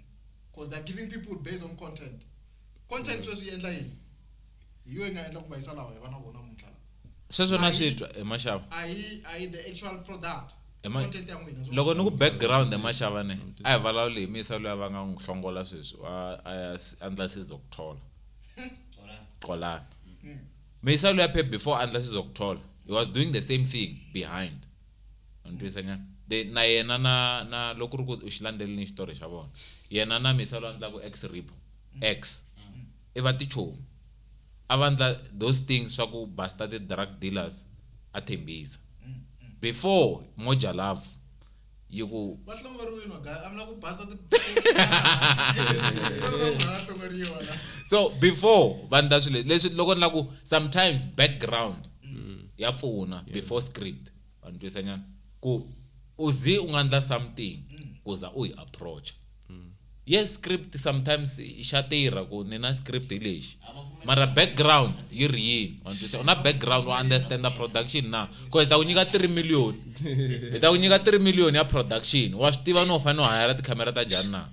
because they're giving people based on content content sweswi yi endla yini hi yo yi nga endla ku vayisa lawa hi va na vona muntlha lawa sweswo na swi twa emaxava a yi a yi the actual product Ema- content ya n'wina so- loko ni ku background emaxava ne a hi vulavuli hi misa loyi a va nga n'wi hlongola sweswi a a ya s- andla size ku thola Xolani. qolana Meyisalo ya Pep before andla sizokuthola he was doing the same thing behind u ni twisa nyana the na yena na na loko ri ku u xi landzelelini xitori xa vona yena na Meyisalo a ndlaku ex ripo ex i va tichomi a va ndla those things swa ku basta ti drug dealers a Thembisa before Moja Love yi ku va hlongoriwile magaya a mi la ku basa ti so before vanhu ta swilo leswi loko ni la ku sometimes background mm. ya pfuna before script vanhu twisanyana ku u zi u nga ndla something mm. ku za u yi approacha mm. yes script sometimes xa tirha ku ni na script hi lexi mara background yi ri yini wantwisa u na background wa understand the production na ko hi ta ku nyika 3 million hi ta ku nyika 3 million ya production wa swi tiva no u fanele u hayara tikhamera ta njhani na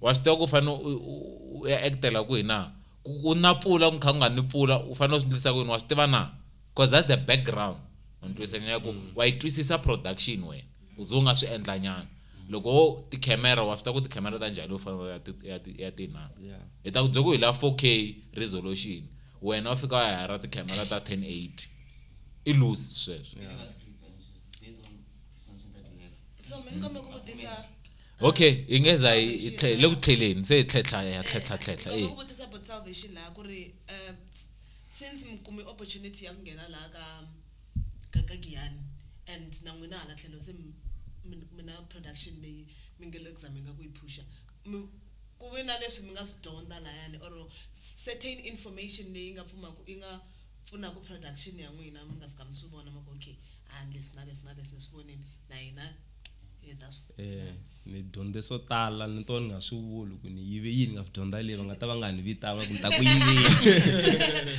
wa swi tiva ku u fanele u ya actela kwihi na ku na pfula ku kha ku nga ni pfula u fanele u swi ndlisa kuyini wa swi tiva na because that's the background wantwisa nyaya ku wa yi twisisa production wena U ze u nga swi endlanyana. Loko wo tikhemera wa swi tiva ku tikhemera ta njhani yo fana na ya ti ya ti ya ti na. Yeah. Hi ta ku byela ku hi la 4K resolution. Wena u fika u ya hira tikhemera ta 1080. I loose sweswo. So mina kambe ku vutisa Okay, hi nge za hi hi tlhe- hi le ku tlheleni se hi tlhetlha hi ya tlhetlha tlhetlha. Ndzi Eya. ku vutisa about salvation laha ku ri eh, since mi kume opportunity ya ku nghena laha ka ka ka Giyani and na n'wina hala tlhelo se mi mi mi na production leyi mi nge le ku zameni ka ku yi phusha mi ku ve na leswi mi nga swi dyondza layani or certain information leyi nga pfumaku yi nga pfunaku production ya n'wina mi nga fika mi swi vona ma ku okay a leswi na leswi na leswi ni swi vonile na hina hi ta swi. Ni dyondze swo tala ni to ni nga swi vuli ku ni yive yini nga swi dyondza leyi va nga ta va nga ni vitanga ku ni ta ku yivile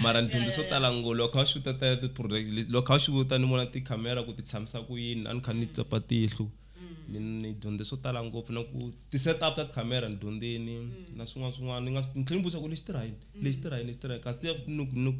mara ni dyondze swo tala ngo loko kha va xuta ta ti-project loko kha va xuta ni vona tikhamera ku ti tshamisa ku yini a ni kha ni tsepa tihlo ni ni dyondze swo tala ngopfu na ku ti-set up ta tikhamera ni dyondzeni na swin'wana swin'wana ni nga ni tlhela ni vutisa ku lexi tirha yini lexi tirha yini lexi tirha yini kasi ni ku ni ku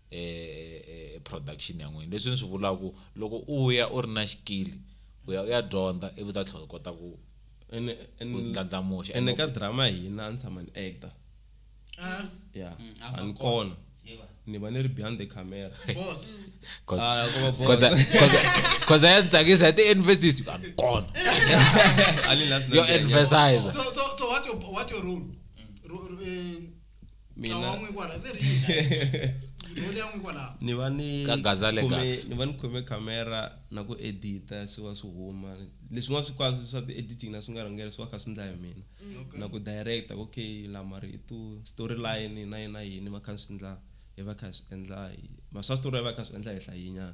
e, e, e production ya n'wina leswi ni swi vulaku loko u ya u ri na xikili u ya u ya dyondza ivi ta tlhela u kota ku ene ene- ndlandlamuxa ene ka drama hina a ni tshama ni actor Ah, ya Mm, a a ni kona. kona Yeva. ni va ni ri behind the camera boss. Ah, ku va boss. cause ya ni tsakisa ya ti-investisi a ni kona A ni la swi yo nandziha. emphasiza So, so, so what your, what your role? Ro- ro- eh, mina wan'we kwala very role yan'we kwala ni va ni Ka Gazale khome- Gas. ni va ni khome camera na ku edita swi va swi huma leswin'wana swi kwaswo swa ti-editing na swi nga rhangela swi va kha swi ndla hi mina Okay. na ku director okay la marito storyline na yina yini va kha swi ndla hi va kha swi endla hi ma swa story va kha swi endla hi hlayinyana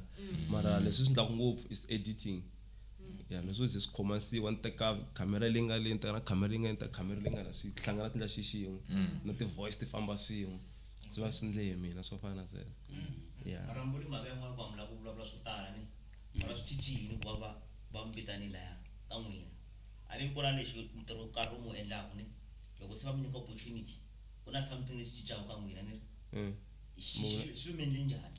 mara leswi swi ndlaku ngopfu is editing ya ni swo ze swi khomasiwa ni teka khamera leyi nga le ni teka na khamera leyi nga ni teka khamera leyi nga la swi hlangana tindla xi xin'we na ti-voice ti famba swin'we swi va swi ndle hi mina swo fana na sweswo ya marambuli mhaka yan'wana ku hambula ku vulavula swo tala ni mara swi cinci yini ku va va va mi vitani laya ka n'wina a ni ku na lexi ntirho wo karhi u mu endlaku ni loko se va mi nyika opportunity ku na something lexi cincaka ka n'wina ni ri hi xi xi swi mi endle njhani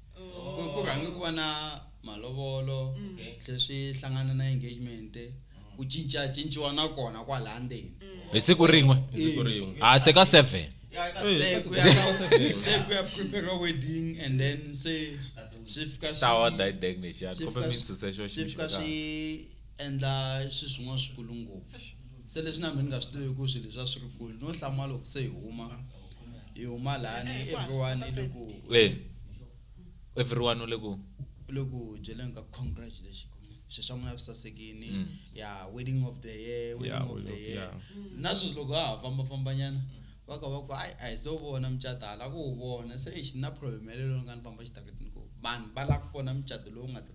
ku ku rhange ku va na malovolo tlhe swi hlangana na engagement ku cinca cinciwa na kona kwalaya ndzeni hi siku rin'we siku rin'we a se ka 7 se ku ya ka- se ku ya prepare wedding and then se swi fika swi- tawa dai dek nexiyani swi kumbe fika mi swi- nsuse xo swi fika ximxo swi endla swi swin'wana swikulu ngopfu se leswi na mina ni nga swi tivi ku swilo leswi a swi ri kulu no hlamula loko se hi huma hi huma laha ni everyone i le ku eh everyone u le ku u le ku byeleni ka congratulation swilo swa n'wina swi sasekini mm. ya wedding of the year wedding of the year na sweswi loko ha ha fambafambanyana va ka va ku hayi a hi se wu vona mucato hala ku wu vona se exi na problem yaleyo loko nga ni famba xitaratini ku vanhu va lava ku vona mucato lowu nga ta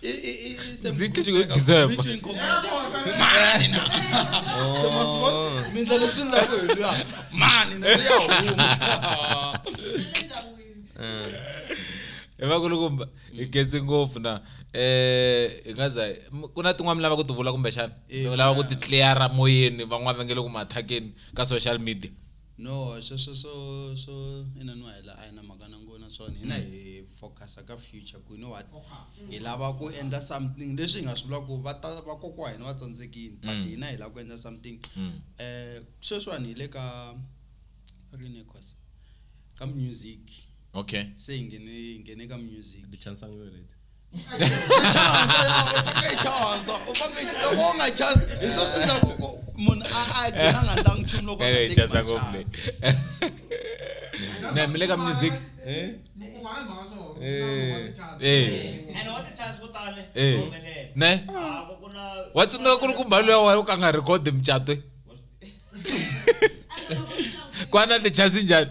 Zikhe xi ku December. Between commander. Mani na. Se ma swi vona? Mi endla leswi endlaku hi luya. Mani na se ya huma. hi va ku ri kumba hi gezi ngopfu na eh hi nga za m- ku na tin'wana mi lava ku ti vula kumbexana mi lava ku ti cleara moyeni van'wana va nge le ku mathakeni ka social media No swo swo swo swo ina ni wahela a hi na mhaka na ngo na swona hina mm. hi focusa ka future ku you know what hi lava ku endla something leswi hi nga swi vula ku va ta va kokwa hina va tsandzekini but mm. hina hi lava ku endla something mm. eh sweswiwani hi le ka rini cause ka music okay se hi nghene hi nghene ka music mile ka music ne wa tsundzuka ku ri ku mbalo ya wena u ka nga record mucato kwana tichasi njhani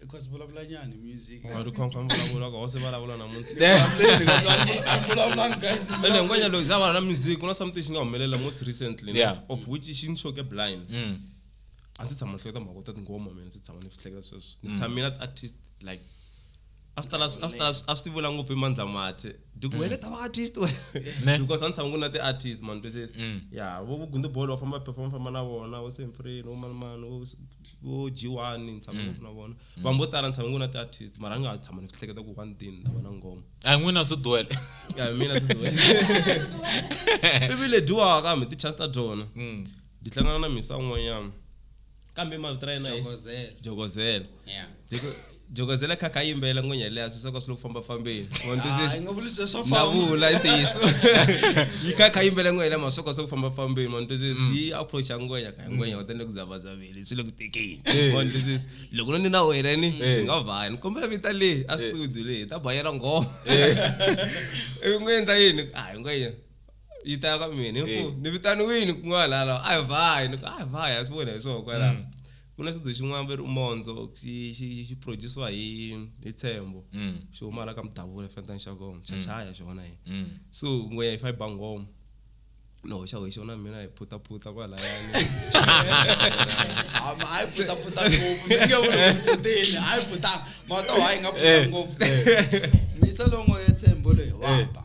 because vulavula nyani music Wa ri khwankha mbulavulo ka hose vulavula namuntlha ene hinkwanya loko za va na music ku na something xi nga humelela most recently no? Yeah. of which xi ni xoke blind Mm. a ndzi tshama ni hleketa mhaka ta tinghoma mina ndzi tshama ni swi hleketa sweswo ni tshamile at artist like after last after last a swi ti vula ngopfu i mandla mathe diku mm. wena ta va artist wena because a ni tshama ku na ti artist man twisisa mm. ya vo vugundi bolo wa famba perform famba na vona vo semfreni vo mani mani vo vo g1 ni tshama ngopfu mm. na vona vanhu vo tala ni tshama ku na ti artist mara ni nga tshama ni swi hleketa ku one thing na vona ngoma a n'wina swi duwele ya mina swi duwele ivi le dyiwaka kambe ti chance ta dyona ndi hlangana na misa un'wanyana kambe mavito ra yena jokozela jokozela yeah jokozela kha kha yimbela n'winya leya swi soko swi lo famba fambeni navula i ntiyiso yi kha kha yimbela n'winya leya masoko swi ku famba fambeni ma ntwisisi mm. yi approach ya ngwenya ka ngwenya u tende ku zavazavile swi le ku tekeni eh. ma ntwisisi loko no ni na wena ni eh. swi nga vaya ni kombela vita leyi a eh. studio leyi ta bayela ngoma i ngwenya ta yini a hi ngwenya ita ka mene Eh. ko ni vitaniwini kun'wana hala a hi vhayi ni ku a hi vhayi a swi vona hi swona kwalaho Mm. ku na xidzo xin'wana va ri umondzo xi xi xi produciwa hi hi tshembo Mm. xi huma hala ka mudavula fentani xa kona xa chaya xona hi Mm. so n'we hi fiber ngoma no hoxa hi xona mina hi phutaphutha kwalayani Hama, hayi puta puta ngopfu ni nge vuli ku puteni hayi puta mato hayi nga puta ngopfu misa longo yetshembo loyi wapa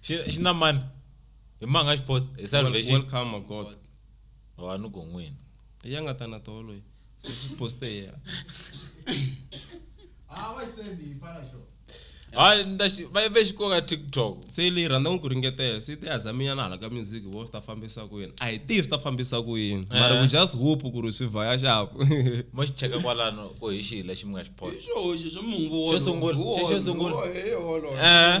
Shi- shina mani imanga shipost Wel- esalvation welcome a god wanu gongwini eyangatana tolo ye sesiposte ya hayi ndashi vayivexikoka tiktok se leyi rhandza n'wi ku ringetela se te azaminyana hala ka music vo swi ta fambisa ku yini a hi tivi swi ta fambisa ku yini mara Eh. ku just hope ku ri swi vhaya xapu mo xi cheka kwalano ku hi xihi lexi mi nga xi post Hi xihoxo xa munhu Xo sungula, xo- xo sungula. Eh.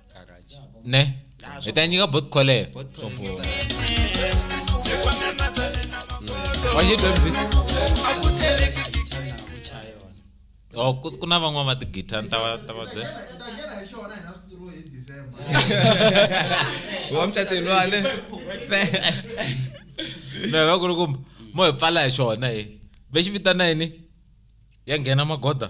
kakaji ne Ah, so- eta nyika bot kole Bot kole. Sombora. Why you doing this? Oh, ku- kuna van'wana va tigita ni ta va ta va byela wa mucateni wale no hi va ku ri kumbe mo hi pfala hi xona hi ve xi vitana yini ya nghena magoda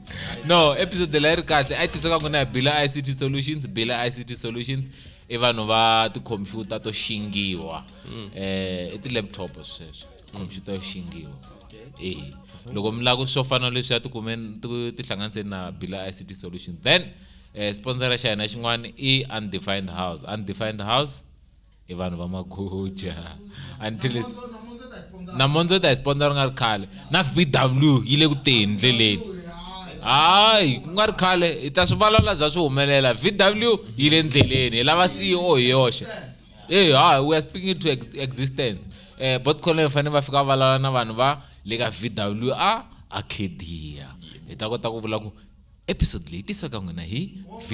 no episode la yi ri kahle a yi tiseka ku na bila ict solutions bila ict solutions i vanhu va tikhompyuta to xingiwa um i ti-laptop sweswo khompyuta yo xingiwa e loko mi lava ku swo fana leswi ya tikumeni tihlanganiseni na bila ict solutions then um sponsora xa hina xin'wana i undefined house undefined house i vanhu va maguja until it's namondzo ta hi sponsor ri nga ri khale na vw yi le ku teni ndleleni hayi ku nga ri khale hi ta swi valala za swi humelela vw yi le ndleleni hi lava ceo hi yoxe e hayi we are speaking to existence um bot collen fanele va fika va valala na vanhu va le ka vw a arcadia hi ta kota ku vula ku episode leyi tisiweka n'wina hi vw